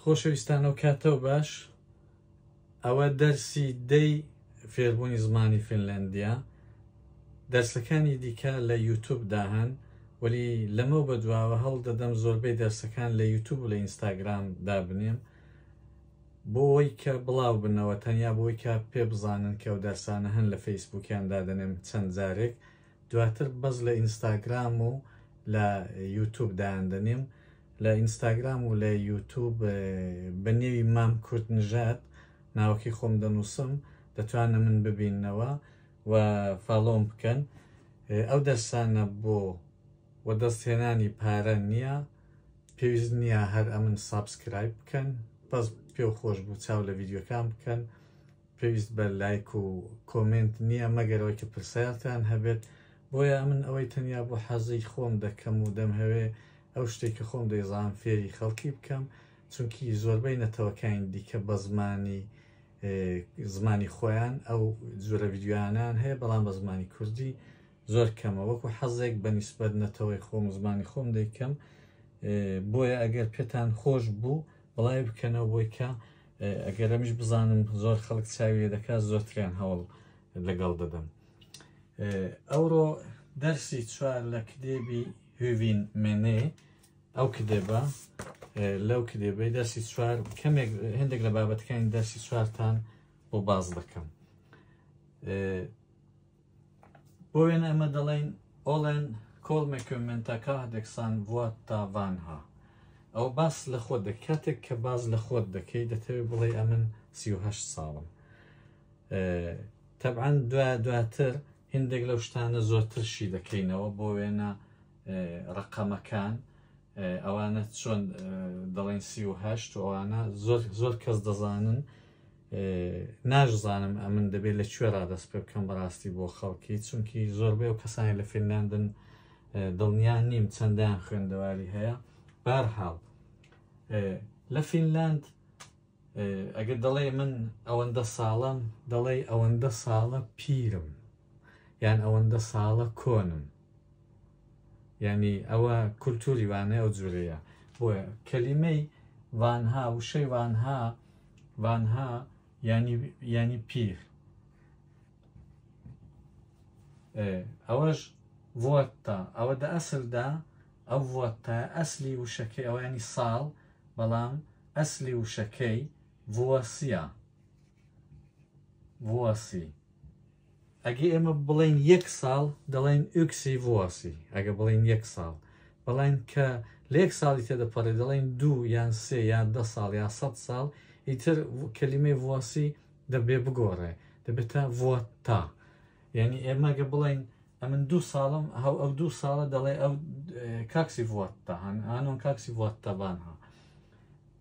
خۆشەویستان و کاتەو باش ئەوە دەرسی دەی فێربوونی زمانی فینلەندیە دەرسەکانی دیکە لە یوتوب داهەن وەلی لەمە بە دواوە هەڵ دەدەم زۆربەی دەرسەکان لە یوتوب و لە ئینستاگرام دابنێم بۆی کە بڵاو بنەوە تەنیا بۆی کە پێ بزانن کە و دەرسانە هەن لە فەیسبووکیان دادنێم چەند جارێک دواتر بەس لە ئینستاگرام و لە یوتوب دایاندەنێم لە ئینستاگرام و لە یوتوب بە نێوی مام کورد نژاد ناوەکەی خۆم دەنووسم دەتوانە من ببینەوە و فاڵۆم بکەن ئەو دەرسانە بۆ و دەستهێنانی پارە نییە پێویست نییە هەر ئەمن سابسکرایب بکەن بەس پێ خۆش بوو چاو لە ڤیددیوکان بکەن پێویست بە لایک و کۆمێنت نیە مەگەر ئەوەی کە پرسیارتان هەبێت بۆیە ئەمن ئەوەی تەنیا بۆ حەزی خۆم دەکەم و دەمهەوێ ئەو شتەی کە خۆم دەیزانم فێری خەڵکی بکەم چونکی زۆربەی نەتەوەکانی دیکە بە زمانی زمانی خۆیان ئەو جۆرە ویددیویانیان هەیە بەڵام بە زمانی کوردی زۆر کەمە وەکو حەزێک بە نیسبەت نەتەوەی خۆم زمانی خۆم دەیکەم بۆیە ئەگەر پێتان خۆش بوو بڵای بکەنەوە بۆی کە ئەگەر ئەمیش بزانم زۆر خەڵک چاوی لێ دەکات زۆرتریان هەوڵ لەگەڵ دەدەم ئەوڕۆ دەرسی چوار لە کتێبی هوین مێنێ ئەو کتێبە لەو کتێبەی دەرسی چوار کەمێک هەندێک لە بابەتەکانی دەرسی چوارتان بۆ باز دەکەم بۆ وێنە ئێمە دەڵێین ئۆڵێن کۆڵ مەکوێمنتەکە دەکسان وات تا ڤانها ئەو باس لە خۆت دەک کاتێک کە باز لە خۆت دەکەی دەتەوێت بڵێ ئەمن سیه ساڵم تەبعاان دوا دواتر هندێک لەو شتانە زۆرترشی دەکەینەوە بۆ وێنە ڕقەمەکان ئەوانە چۆن دەڵێن سی و هەشت و ئەوانە زۆر زۆر کەس دەزانن ناشزانم ئەمن دەبێت لە کوێ ڕادەست پێ بکەم بەڕاستی بۆ خەڵکی چونکی زۆربەی و کەسانی لە فینلاندن دڵنیان نیم چەندیان خوێندەواری هەیە بارحاڵ لە فینلاند ئەگەر دەڵێ من ئەوەندە ساڵم دەڵێ ئەوەندە ساڵە پیرم یان ئەوەندە ساڵە کۆنم یانی ئەوە کولتوری وانە ئەو جورەیە بۆیە کەلیمەی وانها وشەی وانها وانها ینی ینی پیر ئەوەش وەتا ئەوە دە ئەسلدا ئەو وەتا ئەسلی وشەکەی ئەوانی ساڵ بەڵام ئەسلی وشەکەی وەسیە وەسی ئەگەر ئێمە بڵێین یەک ساڵ دەڵێن ئوکسی ڤۆسی ئەگە بڵێن یەک ساڵ بەڵێن کە لە یەک ساڵی تێدەپەڕێ دەڵێن دوو یان سێ یان دە ساڵ یا سە ساڵ ئیتر کەلیمەی ڤۆسی دەبێ بگۆڕێ دەبێتە ڤۆتا یعنی ئێمەگە بڵێن ئەمن دوو ساڵم هەو ئەو دوو ساڵە دەڵێ ئەو کاکسی ڤۆتا هەن ئانۆن کاکسی ڤۆتەبان ها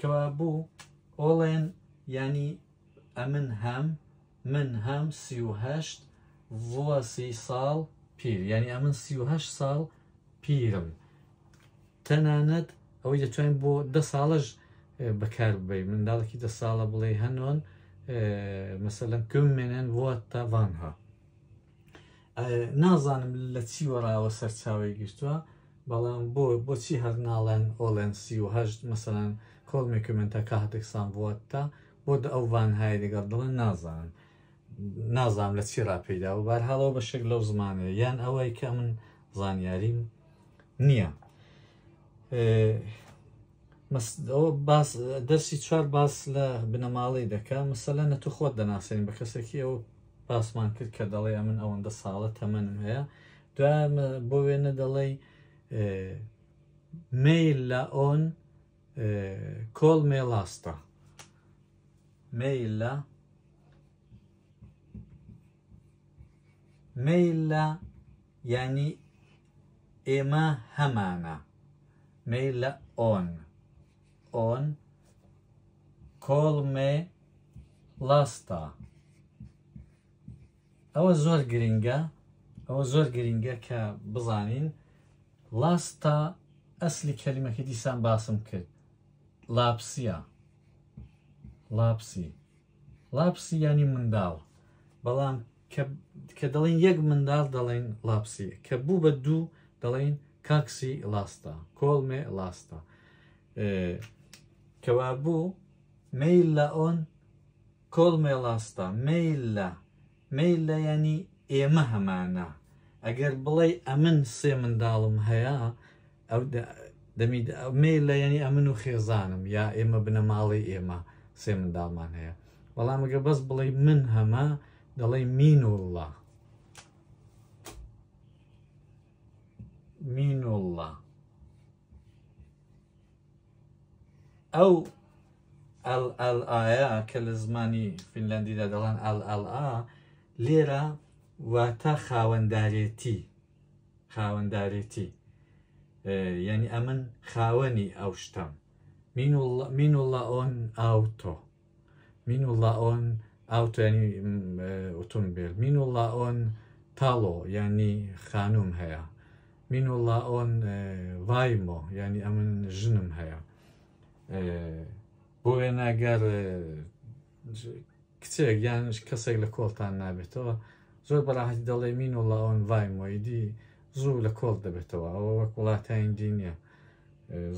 کوا بو ئۆڵێن یانی ئەمن هەم من هەم سی و هەشت ڤوە سی ساڵ پیر یعنی ئەمن سی و هەشت ساڵ پیرم تەنانەت ئەوەی دەتوانین بۆ دە ساڵەش بەکار ببەی منداڵێکی دە ساڵە بڵێ هەنۆن مەسەلەن کم منێن ڤوە تاڤانها نازانم لە چی وەراوە سەرچاوی گرتووە بەڵام بۆ بۆچی هەر ناڵێن ئۆڵێن سی و هەشت مەسەران کۆڵمی کومنتە کاتێکسان بووەتە بۆ دە ئەو ڤانهای لەگەڵ دڵن نازانم نازانم لە چی ڕاپیدا و بارهاڵەوە بە شێک لەو زمانە یان ئەوەی کە من زانیاریم نییە ئەوە باس دەرسی چوار باس لە بنەماڵەی دەکە مەسەلە نە تو خۆت دەناسێنین بە کەسێکی ئەو باسمان کرد کە دەڵێ ئەمن ئەوەندە ساڵە تەمەنم هەیە دوام بۆ وێنە دەڵێی میل لە ئۆن کۆل مێڵاستە میل لە میل لە ینی ئێمە هەمانە میل لە ئۆن ئۆن کۆڵ مێ ڵاستا ئەوە زۆر گرنگە ئەوە زۆر گرنگە کە بزانین ڵاستا ئەسلی کەلیمەکە دیسان باسم کرد لاپسیە لاپسی لاپسی ینی منداڵ بەڵام کە کە دەڵێن یەک منداڵ دەڵێن ڵاپسی کە بوو بە دوو دەڵێن کاکسی ڵاستە کۆڵمێ ڵاستە کەوا بوو میل لە ئۆن کۆڵمێ ڵاستە میل لە میل لە ینی ئێمە هەمانە ئەگەر بڵێ ئەمن سێ منداڵم هەیە ئەو دەمی مێ لە یعنی ئەمن و خێزانم یا ئێمە بنەماڵەی ئێمە سێ منداڵمان هەیە بەڵامگە بەس بڵێ من هەمە دەڵێ مین و الله مین و الله ئەو ئەل ئەل ئایا کە لە زمانی فینلندیدا دەڵێن ئەل ئەل ئا لێرە واتە خاوەندارێتی خاوەندارێتی یعنی ئەمن خاوەنی ئەو شتەم مین الله ئۆن ئاوتۆ مین الله ئۆن ئاوتۆنی ئۆتۆمبیل مین الله ئۆن تاڵۆ ینی خانوم هەیە مین الله ئۆن ڤایمۆ ینی ئەمن ژنم هەیە بۆ وێنەگەر کچێک یان کەسێک لە کۆڵتان نابێتەوە زۆر بەڕاحەتی دەڵێ مین و لاۆن ڤای مۆیدی زوو لە کۆڵ دەبێتەوە ئەوە وەک وڵاتین دی نییە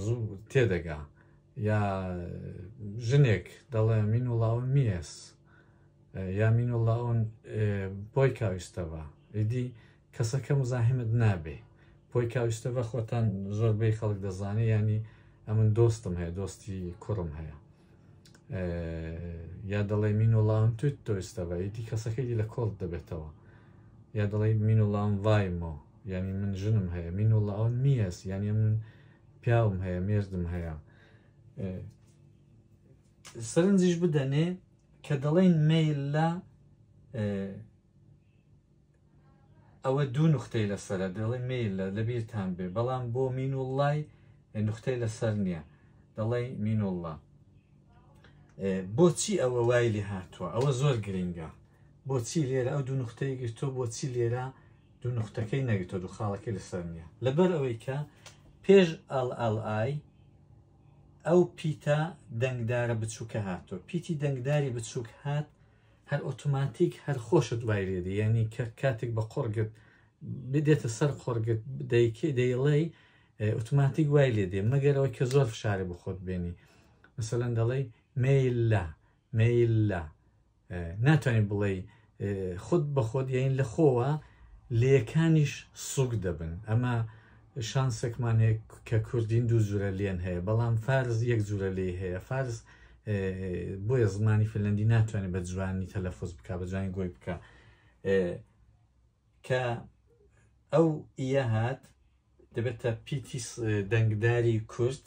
زوو تێدەگا یا ژنێک دەڵێ مین و لاۆن میێس یا مین و لاۆن بۆی کاویستەوە ئیدی کەسەکە مزاحمت نابێ پۆی کاویستەڤە خۆتان زۆر بەی خەڵک دەزانێ ینی ئەمن دۆستم هەیە دۆستی کوڕم هەیە یا دەڵێ مین و لاون توت تۆستەڤە یتی کەسەکەی لە کۆڵ دەبێتەوە یا دەڵێ مین و لاون ڤایمۆ ینی من ژنم هەیە مین و لاون میەس یعنی من پیاوم هەیە مێردم هەیە سەرنجیش بدەنێ کە دەڵێن میل لە ئەوە دوو نوختەی لەسەرە دەڵێ میلە لە بیرتان بێ بەڵام بۆ مین و ڵای نوختەی لەسەر نییە دەڵێ مین و ڵە بۆچی ئەوە وای لێ هاتووە ئەوە زۆر گرنگە بۆچی لێرە ئەو دوو نوختەی گرتۆ بۆچی لێرە دوو نوختەکەی نەگرتۆ دوو خاڵەکەی لەسەر نییە لەبەر ئەوەی کە پێش ئەڵ ئەڵ ئای ئەو پیتە دەنگدارە بچووکە هاتۆ پیتی دەنگداری بچووک هات هەر ئۆتۆماتیک هەر خۆشت وای لێ دێ یعنی کە کاتێک بە قۆڕ گرت بدێتە سەر قۆڕ گرت دەیکەی دەیڵێی ئه، ئۆتۆماتیک وای لێ دێ مەگەرەوەی کە زۆر فشارێ بە خۆت بێنی مثلەن دەڵێی مەیللا مەیللا ئه، ناتوانانی بڵێی ئه، خود بە خۆت یین لە خۆوە لێکانیش سوک دەبن ئەمە شانسێکمان هەیە کە کوردین دوو جورە لێن هەیە بەڵام فارس یەک جورە لێی هەیە فارس بۆیە زمانی فنلندی ناتوانێت بە جوانی تەلەفۆز بک بە جوانی گۆی بکە کە ئەو ئیە هات دەبێتە پیتی دەنگداری کورت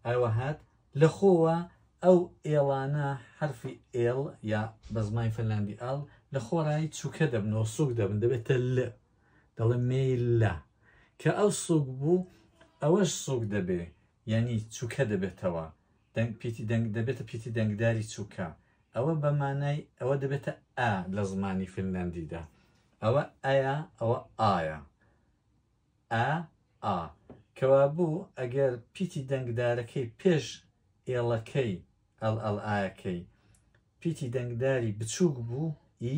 ئەوە هات لە خۆوە ئەو ئێڵانە حرفی ئێڵ یا بە زمانی فنلاندی ئاڵ لە خۆڕایی چووکە دەبنەوە سوک دەبن دەبێتە لە دەڵێ مێیللا کە ئەو سوک بوو ئەوەش سوک دەبێ یعنی چوکە دەبێتەوە دەنگ پیتی دەنگ دەبێتە پیتی دەنگداری چوکە ئەوە بە مانای ئەوە دەبێتە ئا لە زمانی فنلندیدا ئەوە ئایا ئەوە ئایا ئا ئا کەوا بوو ئەگەر پیتی دەنگدارەکەی پێش ئێڵەکەی ئەڵ ئەڵ ئاەکەی پیتی دەنگداری بچووک بوو ی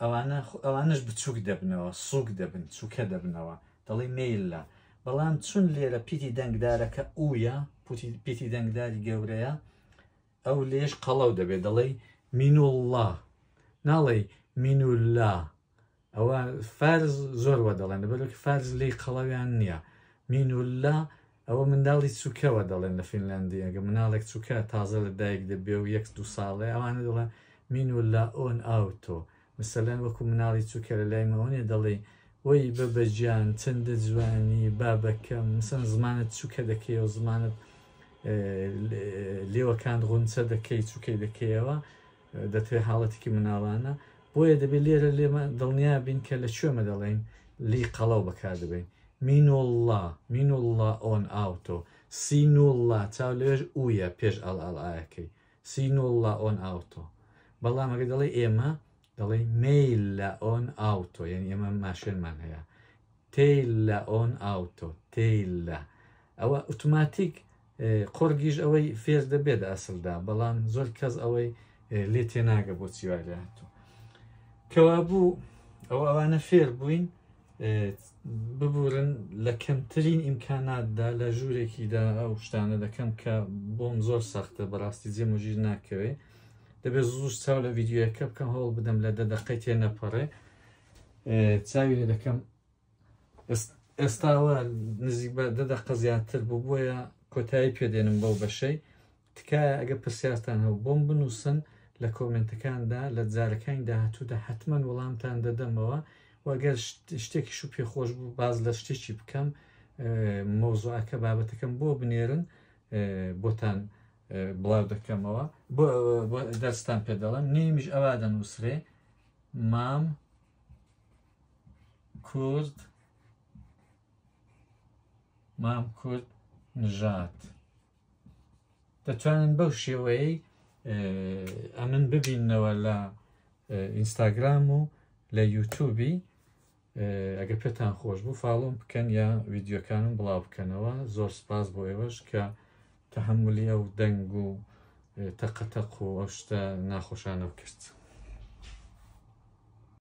ئەوانە ئەوانش بچووک دەبنەوە سووک دەبن چووکە دەبنەوە دەڵی مێللا بەڵام چون لێرە پیتی دەنگدارەکە ئوە پیتی دەنگداری گەورەیە ئەو لێش قەڵەو دەبێت دەڵێ مینوڵڵا ناڵێ مینولا ئەوە فارس زۆر وە دەڵێن لەبەرەوەکە فارس لی قەڵەویان نییە مینوللا ئەوە منداڵی چووکەوە دەڵێن لە فینلندی ئەگە مناڵێک چووکە تازە لە دایک دەبێ و یەک دو ساڵێ ئەوانە دەڵێن مینوللا ئۆن ئاوتۆ مثلەن وەکو مناڵی چووکە لە لای مەوەێ دەڵێ وەی بە بەجان چەندە جوانی بابەکەم مسن زمانت چووکە دەکەی و زمانت لێوەکان غونچە دەکەی چووکەی دەکەیەوە دەتوێ حاڵەتێکی مناڵانە بۆیە دەبێت لێرە لێمە دڵنیا بین کە لە کوێمە دەڵێین لی قەڵەو بەکار دەبین مینوڵڵا مینوڵڵا ئۆن ئاوتۆ سینوڵڵا چاو لەوێژ ئویە پێش ئەڵ ئەڵ ئاەکەی سینوڵڵا ئۆن ئاوتۆ بەڵام ئەگە دەڵێ ئێمە دەڵێ میل لە ئۆن ئاوتۆ یعنی ئێمە ماشێنمان هەیە تیل لە ئۆن ئاوتۆ تیل لە ئەوە ئوتوماتیک قۆڕگیش ئەوەی فێر دەبێ لە ئەسڵدا، بەڵام زۆر کەس ئەوەی لێ تێناگە بۆچی وای لێ هاتووە. کەوابوو ئەو ئەوانە فێر بووین ببورن لە کەمترین ئیمکاناتدا لە ژوورێکیدا ئەو شتانە دەکەم کە بۆم زۆر سەختە بەڕاستی جێم و ژیر ناکەوێ دەبێت زوش چاو لە ڤیددیوەکە بکەم هەوڵ بدەم لە دەدەقەی تێ نەپەڕێ چاوی لە دەکەم ئێستاوە نزیک بە دە دەقە زیاتر بوو بۆیە کۆتایی پێدێنم بەو بەشەی تکایە ئەگە پرسیارتان هەو بۆم بنووسن لە کۆمنتەکاندا لە جارەکانی داهاتوودا حتمما وەڵامتان دەدەمەوە وەگەر شتێکیش و پێخۆش بوو باز لە شتێکی بکەم مۆزوعەکە بابەتەکەم بۆ بنێرن بۆتان بڵاو دەکەمەوە دەستان پێ دەڵم نیمیش ئەوا دەنووسرێ مام کورد مام کورد نژات دەتوانن بەو شێوەیە ئەمن ببینەوە لە ئینستاگرام و لە یوتوبی ئەگە پێتان خۆش بوو فاڵۆم بکەن یا ویددیوکانم بڵاو بکەنەوە زۆر سپاس بۆ ئێوەش کە تەحملی ئەو دەنگ و تەقەتەق و ئەو شتە ناخۆشانە کرد.